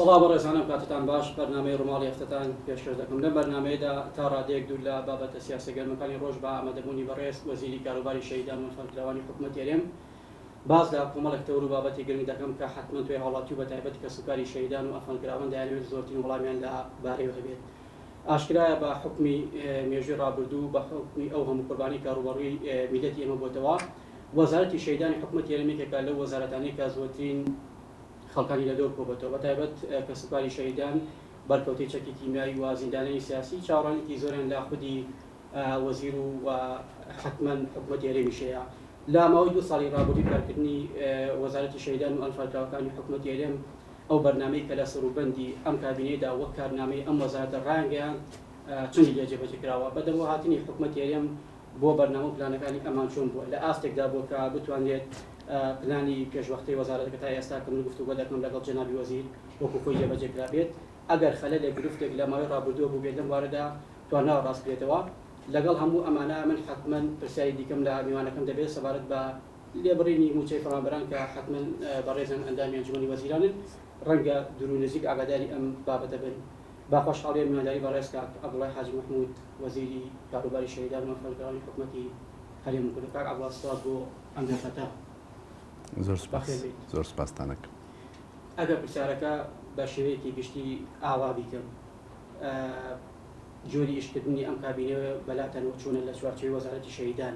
سڵاو بەڕێزانم کاتتان باش بەرنمەی ڕماڵی هەفتتان پێشکەش دەکەم لە بەرنمەیەدا تا ڕادەیەک دوور لە بابەتە سیاسە گەرمەکانی ڕۆژ بە ئامادەبوونی بەڕێز وەزیری کاروباری شەیدان و فەرکراوانی حکوومەت یارێم باز لە کۆمەڵک تەور و بابەتی گرنگ دەکەم کە حتممە توێ هاوڵاتی و بە تایبەت کە سوکاری شەیدان و ئەفەنکراوان دەیانوێت زۆرترین وڵامیان لە بارەیەوە هەبێت ئاشکرایە بە حوکمی مێژووی ڕابردوو، بە حوکمی ئەو هەموو قوربانیەی کە ڕووبەڕووی میللەتی ئێمە بۆتەوە، وەزارەتی شەهیدانی حکومەتی هەرێم یەکێکە لەو وەزارەتانەی کە زۆرترین خەڵکانی لە دەور کۆبۆتەوە، بە تایبەت کەسوکاری شەهیدان، بەرکەوتەی چەکی کیمیاوی و زیندانیانی سیاسی چاوەڕانیەکی زۆریان لە خودی وەزیر و حەتمەن حکومەتی هەرێمیش هەیە. لە ماوەی دوو ساڵی ڕابردووی کارکردنی وەزارەتی شەهیدان و ئەنفالکراوەکانی حکومەتی هەرێم، ئەو بەرنامەی کە لە سەروبەندی ئەم کابینەیەدا وەک کارنامەی ئەم وەزارەتە ڕایانگەیاند چۆنی لێ جێبەجێ کراوە؟ بە دەرەوە هاتنی حکومەتی هەرێم بۆ بەرنامە و پلانەکانی ئەمان چۆن بووە؟ لە ئاستێکدا بووە کە بتوانرێت پلانی پێشوەختەی وەزارەتەکە تا ئێستا کە من گفتوگۆ دەکەم لەگەڵ جەنابی وەزیر وەکو خۆی جێبەجێ کرابێت؟ ئەگەر خەلەلێک گرفتێک لە ماوەی ڕابردووە بووبێت لەم بوارەدا توانراوە ڕاست بکرێتەوە؟ لەگەڵ هەموو ئەمانە من حەتمەن پرسیاری دیکەم لە میوانەکەم دەبێت سەبارەت بە لێبڕینی مووچەی فەڕانبەران کە حەتمەن بەڕێزان ئەندامی ئەنجومەنی وەزیرانن ڕەنگە دوورو نزیک ئاگاداری ئەم بابەتە بن با خۆشحاڵیە میوانداری بەڕێز کاک عەبدوڵای حاجی مەحمود وەزیری کاروباری شەهیدان و ڕفێندکارانی حکومەتی هەرێم بکەن کاک عەبدوڵا سپاس بۆ ئەم دەرفەتە زۆر سپاس زۆر سپاستان ئەکەم. ئەگەر پرسیارەکە بە شێوەیەکی گشتی ئاوا بیکەم جۆری ئیشکردنی ئەم کابینەیە بەلاتەنەوە چۆنە لە چوارچێوەی وەزارەتی شەهیدان؟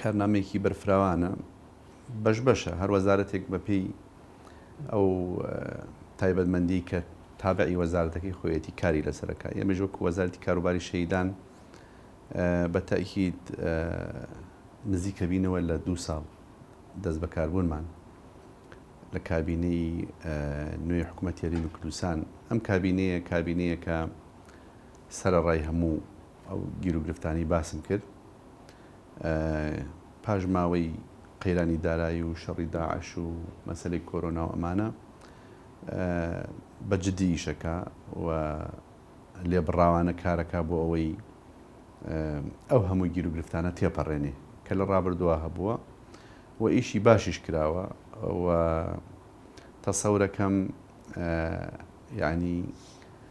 کارنامەیەکی بەرفراوانە بەش بەشە هەر وەزارەتێک بەپێی ئەو تایبەتمەندی کە تابعی وەزارەتەکەی خۆیەتی کاری لەسەرەکە ئێمەش وەکو وەزارتی کاروباری شەیدان بە تاکیید نزیکەبینەوە لە دوو ساڵ دەست بەکاربوونمان لە کابینەی نوێی حکوومەت یاریمی کوردستان ئەم کابینەیە کابینەیەکە سەرڕای هەموو ئەو گیروگرفتانەی باسم کرد پاش ماوەی قەیرانی دارایی و شەڕی داعش و مەسلەی کۆرۆنا و ئەمانە بە جددی ئیشەکە و لێبڕاوانە کارەکە بۆ ئەوەی ئەو هەموو گیروگرفتانە تێپەڕێنێ کە لە ڕابردووە هەبووە و ئیشی باشیش کراوە و تەسەورەکەم ینی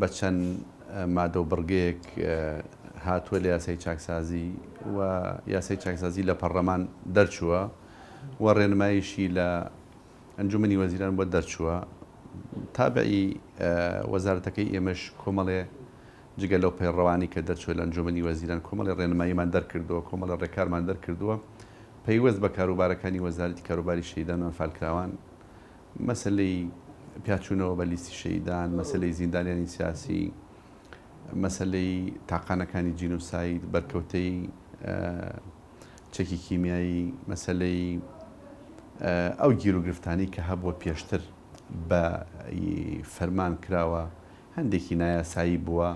بە چەند مادە و بڕگەیەک هاتووە لە یاسای چاکسازی و یاسای چاکسازی لە پەڕلەمان دەرچووە و ڕێنمایشی لە ئەنجومنی وەزیران بۆ دەرچووە تابعی وەزارەتەکەی ئێمەش کۆمەڵێ جگە لەو پەیڕەوانی کە دەرچووە لە ئەنجومنی وەزیران کۆمەڵی ڕێنماییمان دەرکردووە کۆمەڵە ڕێکارمان دەرکردووە پەیوەست بە کاروبارەکانی وەزارەتی کاروباری شەیدان و ئەنفالکراوان مەسەلەی پیاچوونەوە بە لیستی شەهیدان، مەسەلەی زیندانیانی سیاسی، مەسەلەی تاقانەکانی جینۆساید، بەرکەوتەی چەکی کیمیایی، مەسەلەی ئەو گیروگرفتانەی کە هەبووە پێشتر بە فەرمان کراوە، هەندێکی نایاسایی بووە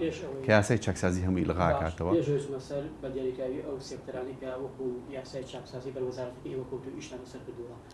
کە یاسای چاکسازی هەمووی ئیلغا ئەکاتەوە. باشە، پێش بچمە سەر بە دیاریکراوی ئەو سێکتەرانەی کە وەکوو یاسای چاکسازی بەر وەزارەتەکەی ئێوە کەوتوو ئیشتان لەسەر کردووە،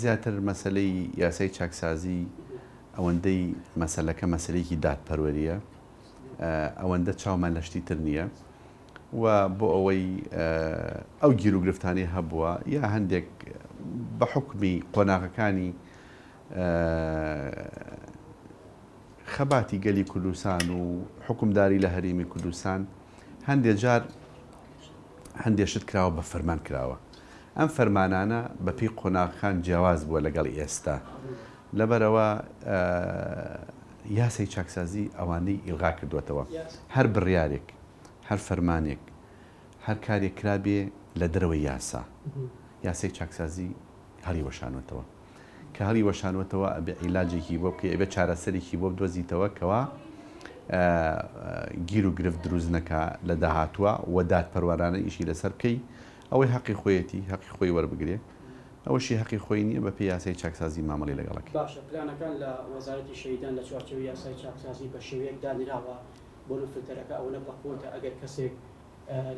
زیاتر مەسەلەی یاسای چاکسازی ئەوەندەی مەسەلەکە مەسەلەیەکی دادپەروەرییە ئەوەندە چاومان لە شتی تر نییە و بۆ ئەوەی ئەو گیر و گرفتانەی هەبووە یا هەندێک بە حکومی قۆناغەکانی خەباتی گەلی کوردستان و حکومداری لە هەرێمی کوردستان هەندێ جار هەندێ شت کراوە بە فەرمان کراوە ئەم فەرمانانە بە پێی قۆناغەکان جیاواز بووە لەگەڵ ئێستا لەبەرئەوە یاسای چاکسازی ئەوانەی ئیلغا کردووەتەوە هەر بڕیارێک هەر فەرمانێک هەر کارێک کرابێ لە دەرەوەی یاسا یاسای چاکسازی هەڵی وەشانوەتەوە کە هەڵی وەشانوەتەوە ئەبێ عیلاجێکی بۆ بکەی ئەبێ چارەسەرێکی بۆ بدۆزیتەوە کەوا گیر و گرفت دروست نەکا لە داهاتووە و دادپەروەرانە ئیشی لەسەر بکەی ئەوەی هەقی خۆیەتی هەقی خۆی وەربگرێ ئەوەشی هەقی خۆی نیە بەپێی یاسای چاکسازی مامەڵی لەگەڵ ئەکرێ. باشە پلانەکان لە وەزارەتی شەهیدان لە چوارچێوەی یاسای چاکسازی بە شێوەیەک دانراوە بۆ نە فلتەرەکە ئەوەنە بە قوەتە ئەگەر کەسێک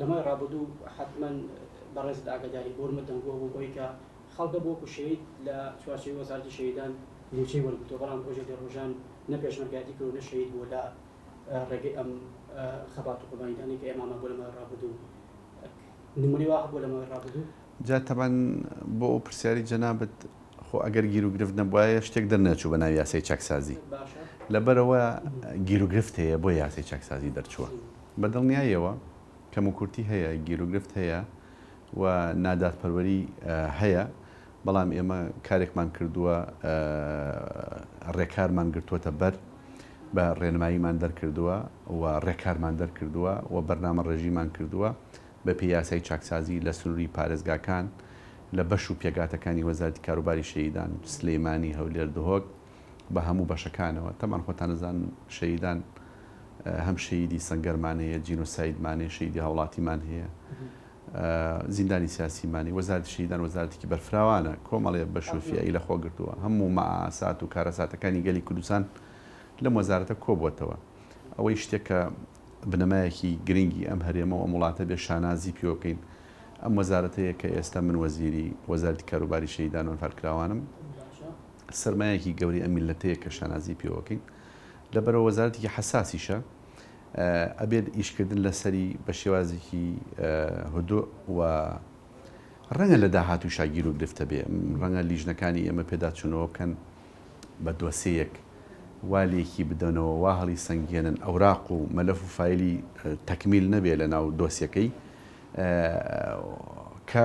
لە مای ڕابردوو حەتمەن بەڕێزت ئاگاداری قورمت دەنگووە بۆ ئەوەی کە خەڵکە بۆ وەکو شەهید لە چوارچێوەی وەزارەتی شەهیدان موچەی وەرگرتووە بەڵام ڕۆژێک لە ڕۆژان نە پێشمەرگایەتی کردووە نە شەهید بووە لە ڕێگەی ئەم خەبات و قوربانیدانەی کە ئێمامان بۆ لە مای ڕابردوو نمونەی وا هەبووە لە ماوەی ڕابردوو؟ جا تەبەن بۆ ئەو پرسیاری جەنابت خۆ ئەگەر گیرو گرفت نەبوایە شتێک دەرنەچوو بە ناوی یاسای چاکسازی لەبەرئەوە گیرو گرفت هەیە بۆیە یاسای چاکسازی دەرچووە بە دڵنیاییەوە کەم و کورتی هەیە گیرو گرفت هەیە و نادادپەروەری هەیە بەڵام ئێمە کارێکمان کردووە ڕێکارمان گرتووەتە بەر بە ڕێنماییمان دەرکردووە و ڕێکارمان دەرکردووە و بەرنامەڕێژیمان کردووە بە پێی یاسای چاکسازی لە سنووری پارێزگاکان لە بەش و پێگاتەکانی وەزارەتی کاروباری شەهیدان، سلێمانی، هەولێر، دهۆک بە هەموو بەشەکانەوە. تەبان خۆتان ئەزانن شەهیدان هەم شەهیدی سەنگەرمان هەیە، جینۆسایدمان هەیە، شەهیدی هاوڵاتیمان هەیە. زیندانی سیاسی مانی، وەزارەتی شەهیدان وەزارەتێکی بەرفراوانە، کۆمەڵێ بەش و فییەی لە خۆ گرتووە، هەموو مەئاسات و کارەساتەکانی گەلی کوردستان لەم وەزارەتە کۆ بووەتەوە، ئەوەی شتێک کە بنەمایەکی گرنگی ئەم هەرێمە و ئەم وڵاتە بێ شانازی پیوە بکەین ئەم وەزارەتەیە کە ئێستا من وەزیری وەزارەتی کاروباری شەهیدان و ئەنفالکراوانم، سەرمایەکی گەورەی ئەم میللەتەیە کە شانازی پیوە ئەکەین، لەبەرئەوە وەزارەتێکی حەساسیشە. ئەبێت ئیشکردن لەسەری بە شێوازێکی هدوء و ڕەنگە لە داهاتووشا گیروگرفتە بێ، ڕەنگە لیژنەکانی ئێمە پێداچوونەوە بکەن بە دۆسێیەک، وا لێکی بدەنەوە، وا هەڵیسەنگێنن ئەوراق و مەلەف و فایلی تەکمیل نەبێ لەناو دۆسیەکەی کە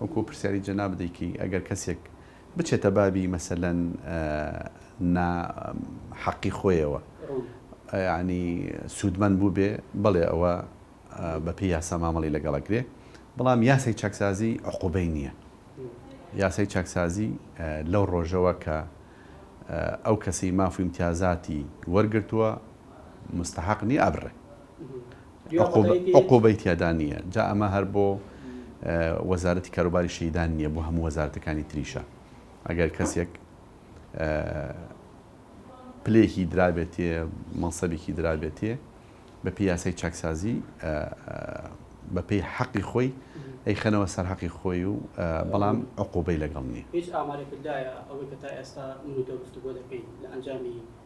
وەکو پرسیاری جەنابت دەیکەی ئەگەر کەسێک بچێتە بابی مەسەلەن نا حەقی خۆیەوە یعنی سوودمەند بووبێ بەڵێ ئەوە بەپێی یاسا مامەڵی لەگەڵەکرێ بەڵام یاسای چاکسازی عقوبەی نییە یاسای چاکسازی لەو ڕۆژەوە کە ئەو کەسی ماف و امتیازاتی وەرگرتووە مستحق نییە ئەبڕێ عقوبەی تیادا نییە جا ئەمە هەر بۆ وەزارەتی کاروباری شەیدان نییە بۆ هەموو وەزارەتەکانی تریشە ئەگەر کەسێک پلێکی درابێتێ مەسەبێکی درابێتێ بە پیاسی چاکسازی بە پێی حەقی خۆی ئەی خەنەوە سەر حەقی خۆی و بەڵام عقوبەی لەگەڵ نیە هیچ ئامارێکدایە ئەوەی کە تا ئێستا منوتە گفتوگۆ دەکەین لە ئەنجامی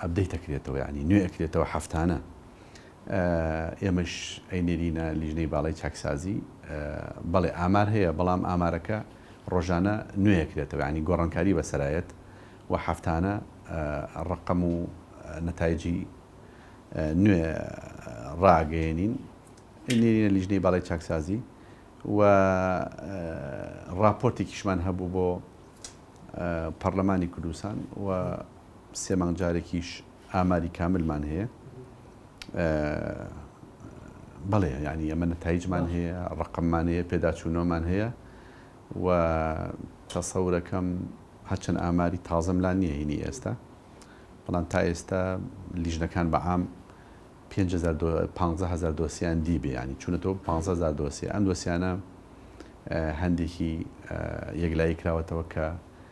ئەبدەیت ئەکرێتەوە یانی نوێ ئەکرێتەوە هەفتانە ئێمەش ئەینێرینە لیژنەی باڵی چاکسازی بەڵێ ئامار هەیە بەڵام ئامارەکە ڕۆژانە نوێەکرێتەوە ینی گۆڕانکاری بەسەرایەت و هەفتانە ڕقم و نەتایجی نوێ ڕاگەێنین ئەینێرینە لیژنەی باڵی چاکسازی و ڕاپۆرتێکیشمان هەبوو بۆ پەرلەمانی کوردستان و سێ مانگ جارێکیش ئاماری کاملمان هەیە بەڵێ ینی ئەمە نەتایجمان هەیە ڕقممان هەیە پێداچوونەوەمان هەیە و تەسەورەکەم هەرچەند ئاماری تازەم لا نییە هینی ئێستا بەڵام تا ئێستا لیژنەکان بەعام 500هزار دۆسییان دی بیانی چونەتەوە 500هزار دۆسی ئەم دۆسیانە هەندێکی یەکلایی کراوەتەوە کە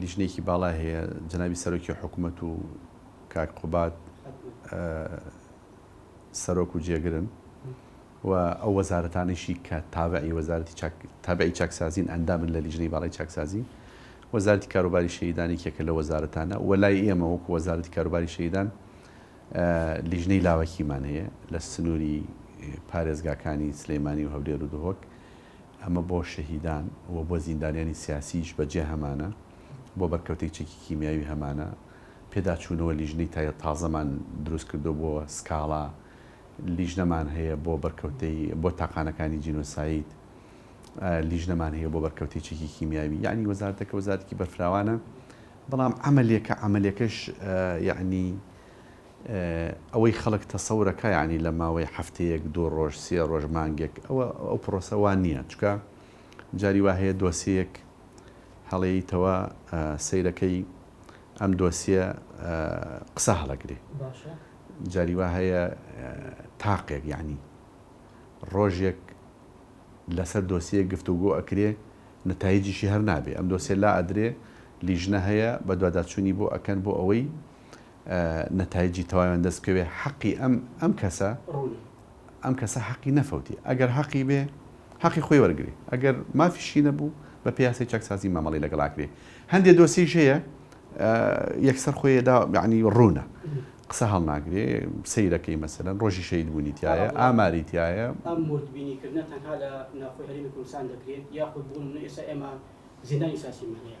لیژنەیەکی باڵای هەیە جەنابی سەرۆکی حکوومەت و کاک قوبات سەرۆک و جێگرن و ئەو وەزارەتانیشی کە تابعی وەزارەتی تابعی چاکسازین ئەندامن لە لیژنەی باڵی چاکسازی وەزارتی کاروباری شەیدانی کێکە لە وەزارەتانە و لای ئێمە وەکو وەزارەتی کاروباری شەیدان لیژنەی لاوەکیمان هەیە لە سنووری پارێزگاکانی سلەیمانی و هەولێر و دهۆک ئەمە بۆ شەهیدان و بۆ زیندانیانی سیاسیش بە جێ هەمانە، بۆ بەرکەوتەی چەکی کیمیاوی هەمانە، پێداچوونەوە لیژنەی تای تازەمان دروست کردووە بۆ سکاڵا، لیژنەمان هەیە بۆ بەرکەوتەی بۆ تاقانەکانی جینۆساید، لیژنەمان هەیە بۆ بەرکەوتەی چەکی کیمیاوی، یەعنی وەزارەتەکە وەزارەتێکی بەرفراوانە، بەڵام عەمەلێکە، عەمەلێکەش یەعنی. ئەوەی خەڵک تەسەورە کا یەعنی لە ماوەی هەفتەیەک دوو ڕۆژ سێ ڕۆژ مانگێک ئەوە ئەو پڕۆسە وا نیە چونکە جاری وا هەیە دۆسیەیەک هەڵێیتەوە سەیرەکەی ئەم دۆسیە قسە هەڵەگرێ جاری وا هەیە تاقێک یەعنی ڕۆژێک لەسەر دۆسیەیەک گفتوگۆ ئەکرێ نەتایجیشی هەر نابێ ئەم دۆسیە لا ئەدرێ لیژنە هەیە بەدواداچوونی بۆ ئەکەن بۆ ئەوەی نەتایجی تەواویان دەست بکەوێ حەقی ئەم ئەم کەسە ئەم کەسە حەقی نەفەوتی ئەگەر حەقی بێ حەقی خۆی وەرگری ئەگەر مافیشی نەبوو بە پیاسی چەکسازی مامەڵی لەگەڵ ئاکرێ هەندێ دۆسیش هەیە یەکسەر خۆیدا یعنی ڕوونە قسە هەڵناگرێ سیرەکەی مەسەرەن ڕۆژی شەید بوونی تایە ئاماری تایە ئەم مردبینیکردە تەنها لە ناوخۆی هەرێمی کوردستان دەکرێت یاخود بوون ئێستا ئێمە زیندانی سیاسی مەهەیە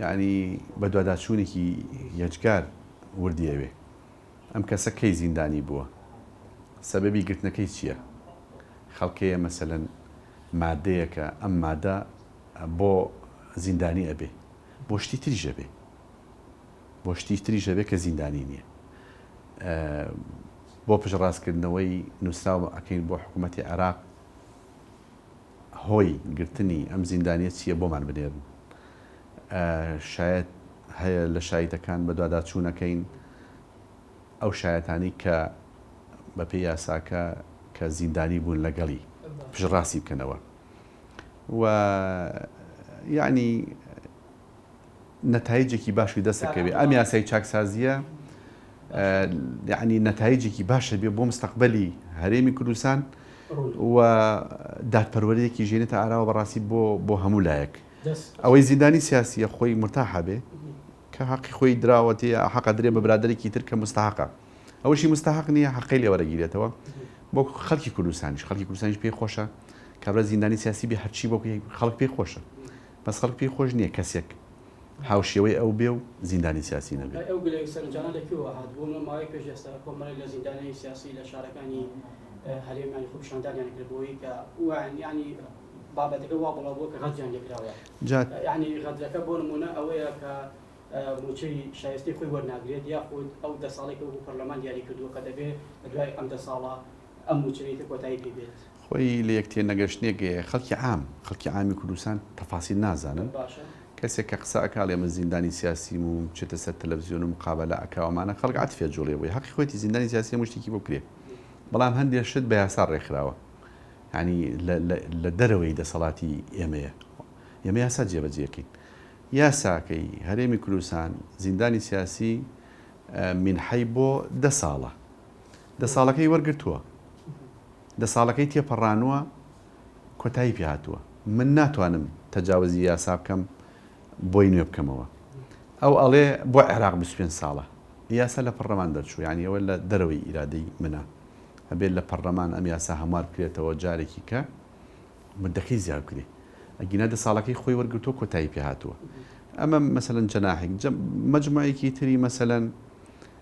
یەعنی بەدواداچوونێکی یەجگار وردی ئەوێ. ئەم کەسە کەی زیندانی بووە؟ سەبەبی گرتنەکەی چییە؟ خەڵکەیە مەسەلەن مادەیەکە ئەم مادە بۆ زیندانی ئەبێ؟ بۆ شتی تریش ئەبێ؟ بۆ شتی تریش ئەبێ کە زیندانی نییە؟ بۆ پشتڕاستکردنەوەی نووسراو ئەکەین بۆ حکوومەتی عێراق. هۆی گرتنی ئەم زیندانیە چیە بۆمان بنێرن شایەت هەیە لە شایتەکان بەدواداچونەکەین ئەو شایەتانی کە بەپێ یاساکە کە زیندانی بوون لەگەڵی پشڕاستی بکەنەوە و یعنی نەتایجێکی باشی دەست دەکەوێت ئەم یاسای چاکسازییە یعنی نەتایجێکی باشە بێ بۆ مستەقبلی هەرێمی کوردستان و دادپەروەرەیەکی ژێنێتە ئاراوە بەڕاستی بۆ بۆ هەموو لایەک ئەوەی زیندانی سیاسیە خۆی مرتاحە بێ کە حەقی خۆی دراوەتی حەقە درێ بە برادێکی تر کە مستحقە ئەوشی مستحق نییە حەقی لێ وەرەگیرێتەوە بۆ خەڵکی کوردستانیش خەڵکی کوردستانیش پێی خۆشە کابرا زیندانی سیاسی بێ هەرچی بۆ خەڵک پێی خۆشە بەس خەڵک پێی خۆش نیە کەسێک هاوشێوەی ئەو بێ و زیندانی سیاسی نەبێ. ئەی ئەو گلەی و سەرنجانە لە کوێوە هات؟ بۆ مە ماوەی پێش ئێستا کۆمەڵێک لە زیندانیانی سیاسی لە شارەکانی هەرێم یانی خۆ پیشاندانیان کرد بۆوەی کە وایان یانی بابەتەکە وا بڵاو بووە کە غەدریان لێ کراوە جا. یانی غەدرەکە بۆ نموونە ئەوەیە کە مووچەی شایستەی خۆی وەرناگرێت یاخود ئەو دە ساڵەی کە وەکوو پەرلەمان دیاری کردووە کە دەبێ دوای ئەم دە ساڵە ئەم موچەی تر کۆتایی پێ دێت. خۆی لە یەک تێنەگەشتنێک گەیە خەڵکی عام خەڵکی عامی کوردستان تەفاسیل نازانن کەسێک کە قسە ئەکا ئەڵێ من زیندانی سیاسیم و بچێتە سەر تەلەفزیۆن و مقابەلە ئەکا و ئەمانە خەڵک عەتفی ئەجوڵێ بۆی هەقی خۆیەتی زیندانی سیاسی هەموو شتێکی بۆ کرێ بەڵام هەندێ شت بە یاسا ڕێکخراوە یعنی لە دەرەوەی دەسەڵاتی ئێمەیە ئێمە یاسا جێبەجێکەین یاساکەی هەرێمی کوردستان زیندانی سیاسی منحەی بۆ دە ساڵە دە ساڵەکەی وەرگرتووە، دە ساڵەکەی تێپەڕانووە کۆتایی پێ هاتووە، من ناتوانم تەجاوزی یاسا بکەم بۆی نوێ بکەمەوە، ئەو ئەڵێ بۆ عێراق بیست و پێنج ساڵە یاسا لە پەڕلەمان دەرچوو یانی ئەوە لە دەرەوەی ئیرادەی منە ئەبێت لە پەڕلەمان ئەم یاسا هەموار بکرێتەوە جارێکی کە مدەکەی زیاد بکرێ ئەگینا دە ساڵەکەی خۆی وەرگرتووە کۆتایی پێ هاتووە ئەمە مەسەلەن جەناحێک مەجموعێکی تری مەسەلەن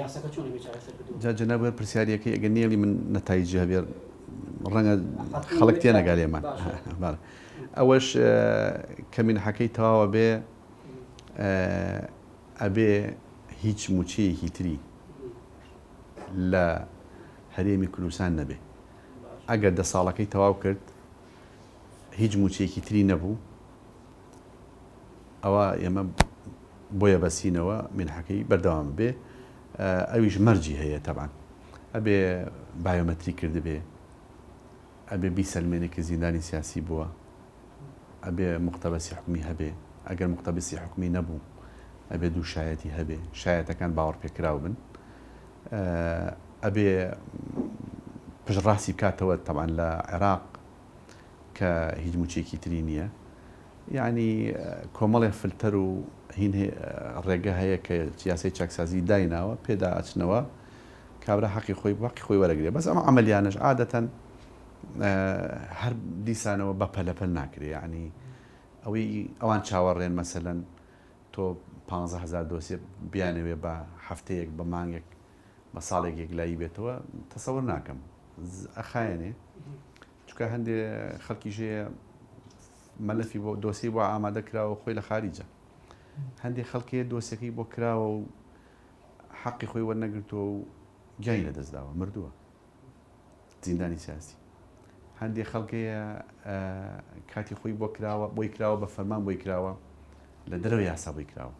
یاسەکە چۆن ئەبێ چارەسەر کردوە بێت؟ جا جەناب وەر پرسیاریەکەی ئەگەر نێڵی من نەتایجی هەبێ ڕەنگە خەڵک تێ نەگا لێمان ئەوەش کە مینحەکەی تەواوە بێ ئەبێ هیچ موچەیەکی تری لە هەرێمی کوردستان نەبێ ئەگەر دە ساڵەکەی تەواو کرد هیچ موچەیەکی تری نەبوو ئەوا ئێمە بۆیە بەسینەوە مینحەکەی بەردەوام بێ ئەویش مەرجی هەیە تەبان ئەبێ بایۆمەتری کردبێ ئەبێ بیسەلمێنێ کە زیندانی سیاسی بووە ئەبێ مختبەسی حکومی هەبێ ئەگەر مختبسی حکومی نەبوو ئەبێ دوو شایەتی هەبێ شایەتەکان باوەڕ پێکراو بن ئەبێ پشڕاستی بکاتەوە تەوان لە عێراق کە هیچ موچەیەکی تری نیە یانی کۆمەڵێ فلتەر و هین ڕێگە هەیە کە یاسای چاکسازی دایناوە پێدا ئەچنەوە کابرا حەقی خۆی باقی خۆی وەرەگرێ بەس ئەمە عملیانش عادەتەن هەر دیسانەوە بە پەلەپەل ناکرێ یعنی ئەوەی ئەوان چاوەڕێن مەسەەن تۆ 15هزار دۆسێ بیانەوێ بە هەفتەیەک بە مانگێک بە ساڵێک یەکلایی بێتەوە تەسەور ناکەم ئەخایەنێ چکە هەندێ خەڵکی ژەیە مەلەفی بۆ دۆسی بۆ ئامادە کراوە خۆی لە خاریجە هەندێ خەڵکێ دۆسەکەی بۆ کراوە و حەقی خۆی وەرنەگرتووە و گیانی لە دەستداوە مردووە زیندانی سیاسی هەندێ خەڵکەیە کاتی خۆی بۆ کراوە بۆی کراوە بە فەرمان بۆی کراوە لە دەرەوە یاسا بۆی کراوە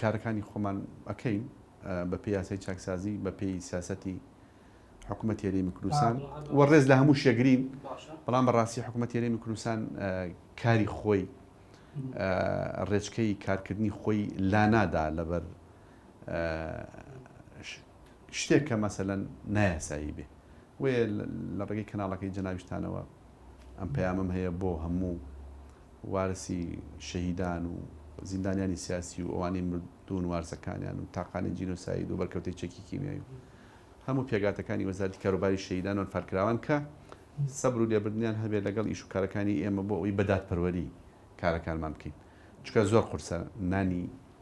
کارەکانی خۆمان ئەکەین بە پێی یاسای چاکسازی بە پێی سیاسەتی حکوومەت هێرێمی کوردستان و ڕێز لە هەموو شێگرین بەڵام بەڕاستی حکوومەت هێرێمی کوردستان کاری خۆی ڕێچکەی کارکردنی خۆی لانادا لەبەر شتێک کە مەسەەن نایاسایی بێ بۆیە لە ڕێگەی کەناڵەکەی جەنابیشتانەوە ئەم پەیامەم هەیە بۆ هەموو وارسی شەهیدان و زیندانیانی سیاسی و ئەوانەی مردوون وارسەکانیان و تاقانەی جینۆساید و بەرکەوتەی چەکی کیمیایی و هەموو پێگاتەکانی وەزارەتی کاروباری شەهیدان و ئەنفالکراوان کە سەبر و لێبردنیان هەبێت لەگەڵ ئیش و کارەکانی ئێمە بۆ ئەوەی بە دادپەروەری کارەکانمان بکەین چونکە زۆر قورسە نانی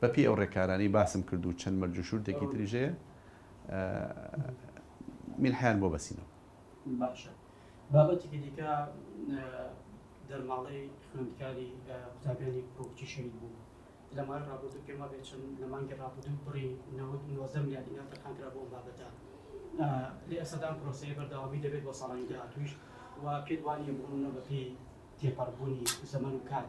بەپێی ئەو ڕێکارانەی باسم کرد و چەند مەرج و شورتێکی تریش هەیە میلحیان بۆ بەسینەوە. باشە بابەتێکی دیکە دەرماڵەی خوێندکاری قوتابیانی پڕۆکچی شەهید بوو لە ماوەی ڕابردوو پێم وابێت چەند لە مانگی ڕابردوو بڕی نەوەد و نۆزدە ملیار دینار تەرخانکرا بۆ ئەم بابەتە لە ئێستادا ئەم پرۆسەیە بەردەوامی دەبێت بۆ ساڵانی داهاتووش و پێت وانییە بڕونە بەپێی تێپەڕبوونی زەمەن و کات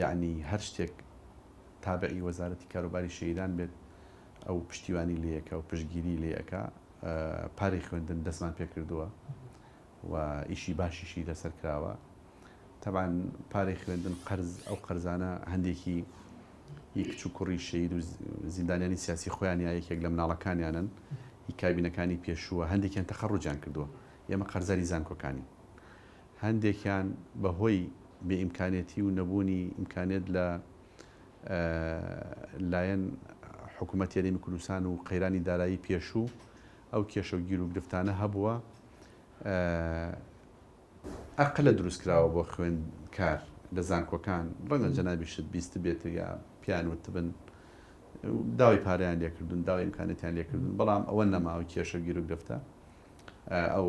یەعنی هەر شتێک تابعی وەزارەتی کاروباری شەهیدان بێت ئەو پشتیوانی لێ ئەکا و پشتگیری لێ ئەکا پارەی خوێندن دەستمان پێ کردووە و ئیشی باشیشی لەسەر کراوە تەبان پارەی خوێندن قەرز ئەو قەرزانە هەندێکی هی کچ و کوڕی شەید و زیندانیانی سیاسی خۆیان یا یەکێک لە مناڵەکانیانن هی کابینەکانی پێشووە هەندێکیان تەخەڕوجان کردووە ئێمە قەرزاری زانکۆکانی هەندێکیان بە هۆی بێ ئیمکانێتی و نەبوونی ئیمکانێت لە لایەن حکوومەت هەرێمی کوردستان و قەیرانی دارایی پێشوو ئەو کێشە و گیروگرفتانە هەبووە ئەقلە دروست کراوە بۆ خوێندکار لە زانکۆکان ڕەنگە جەنابیشت بیست بێت یا پیان وتبن داوای پاریان لێکردن داوای ئیمکانێتیان لێکردن بەڵام ئەوە نەماوە کێشە گیروگرفتە ئەو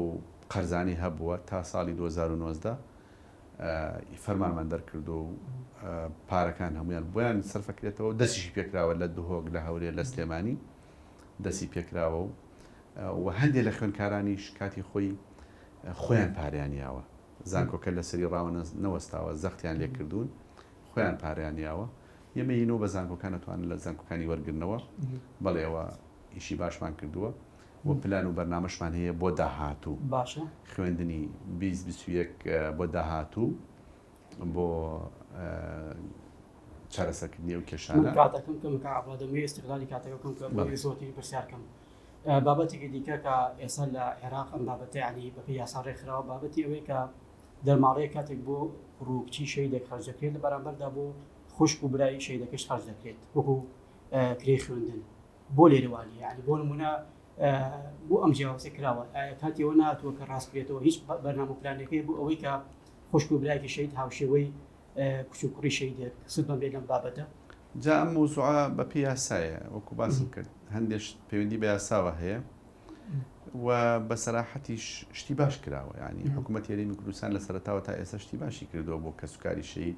قەرزانەی هەبووە تا ساڵی دوو هەزار و نۆزدە ی فەرمانمان دەرکردووە و پارەکان هەموویان بۆیان سەرفەکرێتەوە دەستیشی پێکراوە لە دهۆک لە هەورێ لە سلێمانی دەستی پێکراوە و و هەندێک لە خوێنکارانیش کاتی خۆی خۆیان پاریان یاوە زانکۆکە لە سەری ڕاوە نەوەستاوە زەختیان لێکردوون خۆیان پاریان یاوە ئێمە یینەوە بە زانکۆکان نەتوانن لە زانکۆکانی وەرگرنەوە بەڵێەوە ئیشی باشمان کردووە و پلان و بەرنامەشمان هەیە بۆ داهاتوو باشە خوێندنی بیست بیست و یەک بۆ داهاتوو بۆ چارەسەکردنی ئەو کێشانە کاتەکەم کەم کە ئابا دەمەوێت استغلالی کاتەکە کەم کە بەڵێ. زۆرتری پرسیار کەم ئە، بابەتێکی دیکە کە ئێستا لە عێراق ئەم بابەتە علی بەپێ یاسا ڕێکخراوە بابەتی ئەوەی کە دەرماڵەیە کاتێک بۆ ڕووکچی شەیدێک خەرج دەکرێت لە بەرامبەردا بۆ خوشک و برایی شەیدەکەش خەرج دەکرێت وەکو ئە، کرێی خوێندن بۆ لێرە وانیە یانی بۆ نمونە بۆ ئەم جیاوازە کراوە ئایا کاتی ئەوە ناتوە کە ڕاستکرێتەوە هیچ بەرنامە پلانەکەی بۆ ئەوەی کە خوشک و برایکی شەید هاوشێوەی کچ و کوڕی شەیدێک سود بەم بێ لەم بابەتە جا ئەم مەوزوعە بەپێی یاسایە وەکو باسم کرد هەندێک شت پەیوەندی بە یاساوە هەیە و بە سەراحەتیش شتی باش کراوە ینی حکوومەت هێرێمی کوردستان لە سەرتاوە تا ئێستا شتی باشی کردووە بۆ کەسوکاری شەید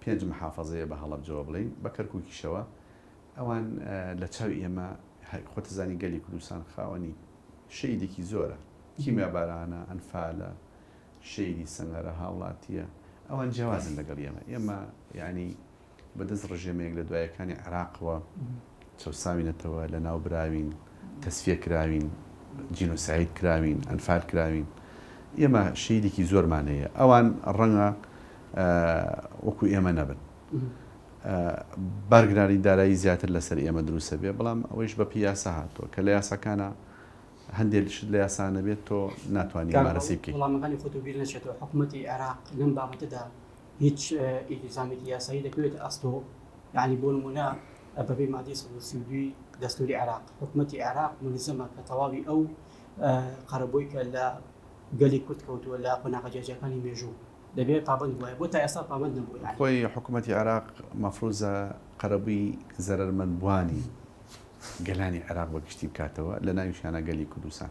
پێنج محافەزەیە بە هەڵەبجەوە بڵێین بە کەرکوکیشەوە ئەوان لە چاوی ئێمە خۆتزانی گەلی کوردستان خاوەنی شەیدێکی زۆرە کیمیا بارانە ئەنفالە شەیدی سەنگەرە هاوڵاتیە ئەوان جیاوازن لەگەڵ ئێمە ئێمە یعنی بەدەست ڕژێمەیەک لە دوایەکانی عێراقەوە چەوساوینەتەوە، لەناوبراوین، تەسفیە کراوین، جینۆساید کراوین، ئەنفال کراوین، ئێمە شەهیدێکی زۆرمان هەیە، ئەوان ڕەنگە وەکو ئێمە نەبن، بارگرانی دارایی زیاتر لەسەر ئێمە دروست بێت، بەڵام ئەوەیش بەپێی یاسا هاتووە، کە لە یاساکانە هەندێک شت لە یاسا نەبێت تۆ ناتوانی ممارەسەی بکەیت. کاک ڕەوڵ وڵامەکانی خۆت و بیر نەچێتەوە، حکومەتی عێراق لەم بابەتەدا هیچ ئیلتیزامێکی یاسایی دەکەوێتە ئەستۆ؟ یەعنی بۆ نموونە بەپێی مادەی سەد و سی و دووی دەستووری عێراق، حکومەتی عێراق مولزەمە کە تەواوی ئەو قەرەبۆی کە لە گەلی کورد کەوتووە لە قۆناغە جیاجیاکانی مێژوو، دەبێ پابەند بووایە، بۆ تا ئێستا پابەند نەبووە یەعنی؟ خۆی حکومەتی عێراق مەفرووزە قەرەبووی زەرەرمەندبووانی گەلانی عێراق بە گشتی بکاتەوە، لە ناویشیانا گەلی کوردستان.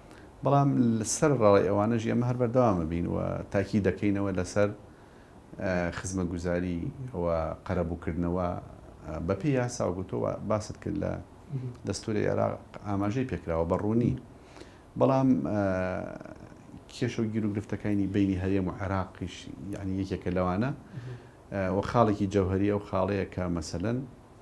بەڵام سەر ڕای ئەوانەش ئێمە هەر بەردەوام ئەبین و تاکید دەکەینەوە لەسەر خزمەتگوزاری و قەرەبووکردنەوە بەپێی یاسا و گوتۆ باست کرد لە دەستوری عێراق ئاماژەی پێکراوە بە ڕوونی بەڵام کێشە و گیر و گرفتەکانی بینی هەرێم و عێراقیش یعنی یەکێکە لەوانە و خاڵێکی جەوهری ئەو خاڵەیە کە مەسەن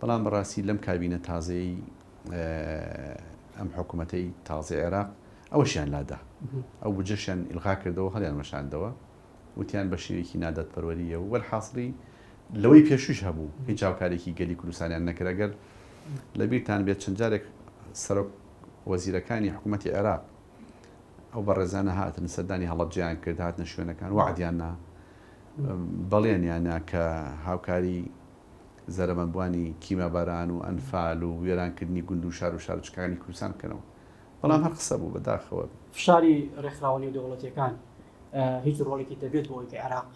بەڵام بەڕاستی لەم کابینە تازەیەی ئەم حکومەتەی تازەی عێراق ئەوەشیان لادا ئەو بجەشیان ئیلغا کردەوە هەڵیان وەشاندەوە وتیان بە شێوێکی نادادپەروەریە و وەرحاصلی لەوەی پێشوش هەبوو هیچ هاوکارێکی گەلی کوردستانیان نەکرەگەر لە بیرتان بێت چەند جارێک سەرۆک وەزیرەکانی حکوومەتتی عێراق ئەو بەڕێزانە هاتن سەردانی هەڵبجیان کرد هاتنە شوێنەکان وعدیاننا بەڵێنیانە کە هاوکاری زەرەمەندبوانی کیماباران و ئەنفال و وێرانکردنی گوند و شار و شارۆچکەکانی کوردستان بکەنەوە، بەڵام هەر قسە بوو، بەداخەوە. فشاری ڕێکخراوە نێودەوڵەتییەکان هیچ ڕۆڵێکی دەبێت بۆ ئەوەی کە عێراق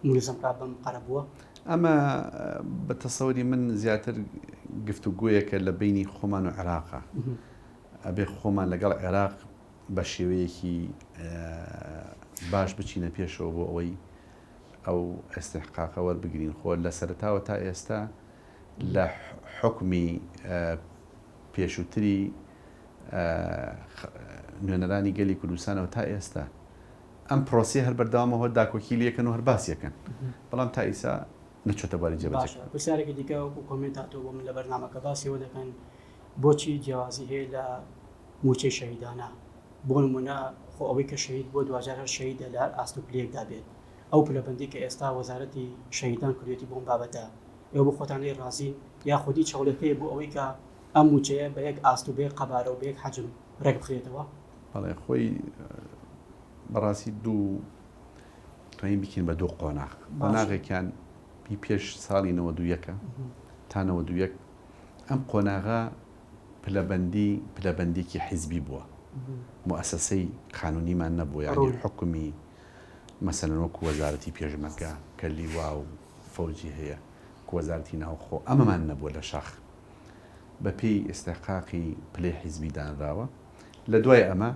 ملزم بکات بەم قەرەبووە؟ ئەمە بە تەسەوری من زیاتر گفتوگۆیەکە لە بەینی خۆمان و عێراقە. ئەبێ خۆمان لەگەڵ عێراق بە شێوەیەکی باش بچینە پێشەوە بۆ ئەوەی ئەو ئیستحقاقە وەربگرین خۆ لە سەرەتاوە تا ئێستا لە حوکمی پێشووتری نوێنەرانی گەلی کوردستانەوە تا ئێستا ئەم پرۆسی هەر بەردەوامە هۆ داکۆکی لەکەن و هەر باسیەکەن بەڵام تا ئیسا نەچۆتە باری جێ پرسیارێکی دیکە وەکو کۆمێنت هاتۆ بۆ من لە بەرنامەکە باسیەوە دەکەن بۆچی جیاوازی هەیە لە موچەی شەهیدانە بۆ نموونە خۆ ئەوەی کە شەهید بووە دواجار هەر شەهیدە لە هەر ئاست و پلەیەکدا بێت، ئەو پلەبەندی کە ئێستا وەزارەتی شەهیدان کردوویەتی بۆ ئەم بابەتە ئێوە بۆ خۆتان لێی ڕازین یاخود هیچ هەوڵێک هەیە بۆ ئەوەی کە ئەم مووچەیە بە یەک ئاست و بە یەک قەبارە و بە یەک حەجم ڕێک بخرێتەوە؟ بەڵێ خۆی بەڕاستی دوو توانین بکەین بە دوو قۆناغ قۆناغێکیان پێش ساڵی نەوەدوو یەکە تا نەوەدوو یەک ئەم قۆناغە پلەبەندی پلەبەندیکی حیزبی بووە موئەسەسەی قانونیمان نەبووە یانی حوکمی مەسەلەن وەکو وەزارەتی پێشمەرگە کە لیوا و فەوجی هەیە وەزارتی ناوخۆ ئەمەمان نەبووە لە شاخ بە پێی ئێستاقاقی پلەی حیزبی دانراوە لە دوای ئەمە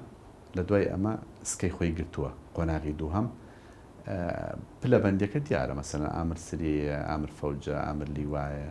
لە دوای ئەمە سکەی خۆی گرتووە قۆناغی دووهم پلەبەندەکە دیارە مەسەن ئامر سریە ئامر فەوجە ئامر لیوایە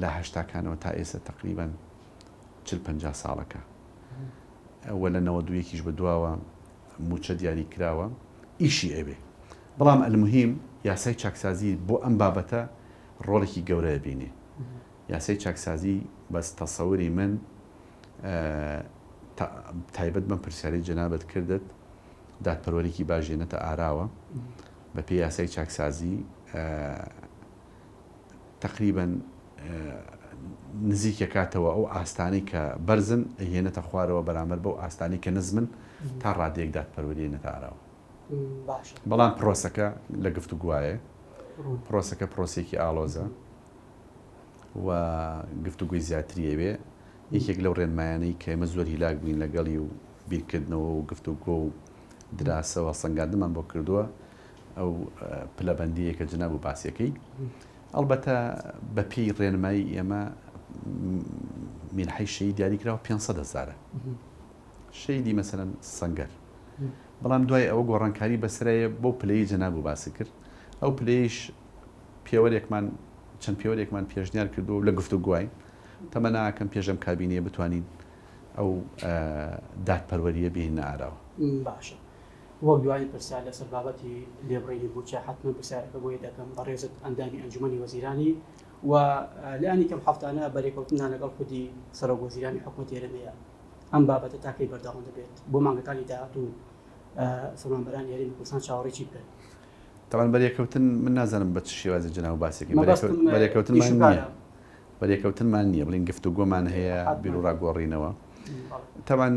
لە هەشتاکانەوە تا ئێستا تەقریبەن چل پەنجا ساڵەکە وە لە نەوەد و یەکیش بە دواوە مووچە دیاری کراوە ئیشی ئەوێ بەڵام ئەلموهیم یاسای چاکسازی بۆ ئەم بابەتە ڕۆڵێکی گەورە ئەبینێ یاسای چاکسازی بەس تەسەوری من تایبەت بەم پرسیارەی جەنابت کردت دادپەروەرێکی باش هێنێتە ئاراوە بەپێی یاسای چاکسازی تەقریبەن نزیک ئەکاتەوە ئەو ئاستانەی کە بەرزن ئەیهێنێتە خوارەوە بەرامبەر بەو ئاستانەی کە نزمن تا ڕادەیەک دادپەروەری ئەیەنێتە ئاراوە بەڵام پرۆسەکە لە گفتوگوایە پرۆسەکە پرۆسێکی ئاڵۆزە و گفتوگوی زیاتری ئەوێ یەکێک لەو ڕێنمایانەی کە ئێمە زۆر هیلاک بووین لەگەڵی و بیرکردنەوە و گفتوگۆ و دراسەوە سەنگاندمان بۆ کردووە ئەو پلەبەندییە کە جناب و باسی یەکەی ئەڵبەتە بە پێی ڕێنمایی ئێمە مینحی شەی دیاریکراوە 500 هزارە شەیدی مەسەن سنگەر بەڵام دوای ئەوە گۆڕانکاری بەسرەیە بۆ پلەی جناب و باسی کرد ئەو پلەیش پێوەرێکمان چەند پێوەرێکمان پێشنیار کردو لە گفتو گوای تەمەناکەم پێشم کابینەیە بتوانین ئەو دادپەروەریە بینە ئاراوە باشە. وەک دوایین پرسیار لەسەر بابەتی لێبڕینی مووچە، حەتمەن پرسیارەکە بۆی دەکەم، بەڕێزت ئەندامی ئەنجومەنی وەزیرانی و لانی کەم هەفتانە بەرێکەوتنتان لەگەڵ خودی سەرۆک وەزیرانی حکومەتی هەرێمەیە، ئەم بابەتە تا کەی بەردەوام دەبێت؟ بۆ مانگەکانی داهاتوو فەرمانبەرانی هەرێمی کوردستان چاوەڕێی چی بکەن؟ تەبعەن بەرێکەوتن، من نازانم بە چ شێوازێک جەنابت باسی دەکەن، بەرێکەوتنمان نییە، بەرێکەوتنمان نییە، بڵێن گفتوگۆمان هەیە، بیروڕا گۆڕینەوە، تەبعەن.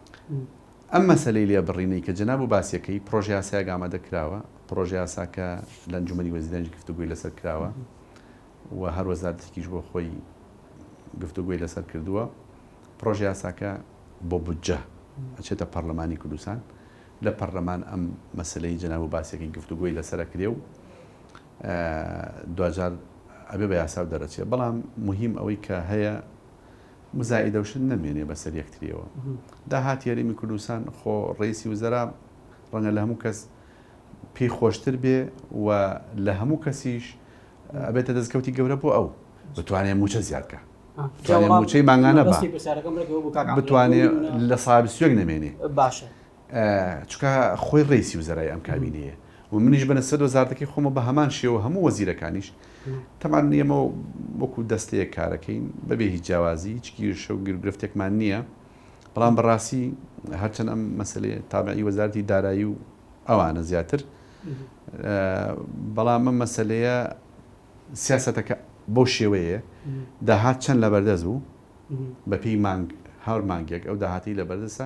ئەم مەسەلەی لێبڕینەی کە جەنابو باسیەکەی، پڕۆژەیاسایەک ئامادە کراوە، پڕۆژەیاساکە لە ئەنجومەنی وەزیرانیش گفتوگۆی لەسەر کراوە و هەر وەزارەتێکیش بۆ خۆی گفتوگۆی لەسەر کردوە، پڕۆژەیاساکە بۆ بودجە ئەچێتە پەڕلەمانی کوردستان، لە پەڕلەمان ئەم مەسەلەی جەنابو باسیەکەی گفتوگۆی لەسەر ئەکرێ و دواجار ئەبێ بە یاساو دەرئەچێ، بەڵام موهیم ئەوەی کە هەیە مزایدەوشت نەمێنێ بەسەر یەکتریەوە. داهاتی هەرێمی کوردستان خۆ ڕەیسی وزەرا ڕەنگە لەهەموو کەس پێی خۆشتر بێ و لەهەموو کەسیش ئەبێتە دەستکەوتی گەورە بۆ ئەو بتوانێ مووچە زیاد کا. بتوانێ مووچەی مانگانە با. بتوانێ لە ساڵ بیست و یەک نەمێنێ. باشە. چونکە خۆی ڕەیسی وزەرای ئەم کابینەیە و منیش بە نسبەت وەزارەتەکەی خۆمە بە هەمان شێوە هەموو وەزیرەکانیش تەمان ئێمە وەکو دەستەیەک کارەکەین بەبێ هیچ جیاوازی هیچ گیرشە و گرگرفتێکمان نییە بەڵام بەڕاستی هەرچەند ئەم مەسلێ تابعی وەزارتی دارایی و ئەوانە زیاتر بەڵام ئەم مەسلەیە سیاستەکە بۆ شێوەیە داهات چەند لە بەردەست بوو بەپی مانگ هەر مانگێک ئەو داهاتی لە بەردەسە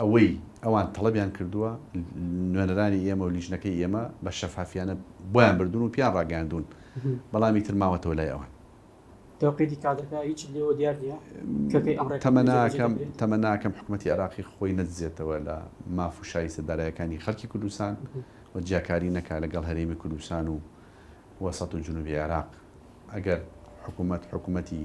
ئەوەی ئەوان تەڵەبیان کردووە، نوێنەرانی ئێمە و لیژنەکەی ئێمە بە شەفافیانە بۆیان بردوون و پێیان ڕاگەیاندوون، بەڵام ئیتر ماوەتەوە لای ئەوان. تەوقیتی کادرەکە هیچت لێوە دیار نییە کە کەی ئەم ڕێککەوتنە جێبەجێ دەکرێت؟ تەمە ناکەم حکومەتی عێراقی خۆی نەدزێتەوە لە ماف و شایستە دارایەکانی خەڵکی کوردستان و جیاکاری نەکا لەگەڵ هەرێمی کوردستان و وەسەت و جنوبی عێراق. ئەگەر حکومەت حکومەتی.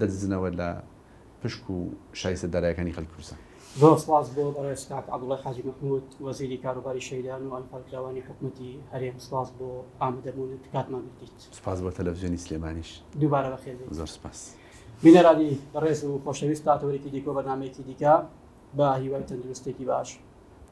دەدزنەوە لە پشک و شایستە دارایەکانی خەلکی کوردستان. زۆر سپاس بۆ بەڕێز کاک عەبدوڵای حاجی مەحمود وەزیری کاروباری شەهیدان و ئەنفالکراوانی حکومەتی هەرێم سپاس بۆ ئامدەبونت کاتمان گرتیت. سپاس بۆ تەلەفزیۆنی سلێمانیش. دووبارە بەخێر بێیت. زۆر سپاس. بینەرانی بەڕێز و خۆشەویست تا تەوەرێکی دیکە و بەرنامەیەکی دیکە بە هیوای تەندروستێکی باش.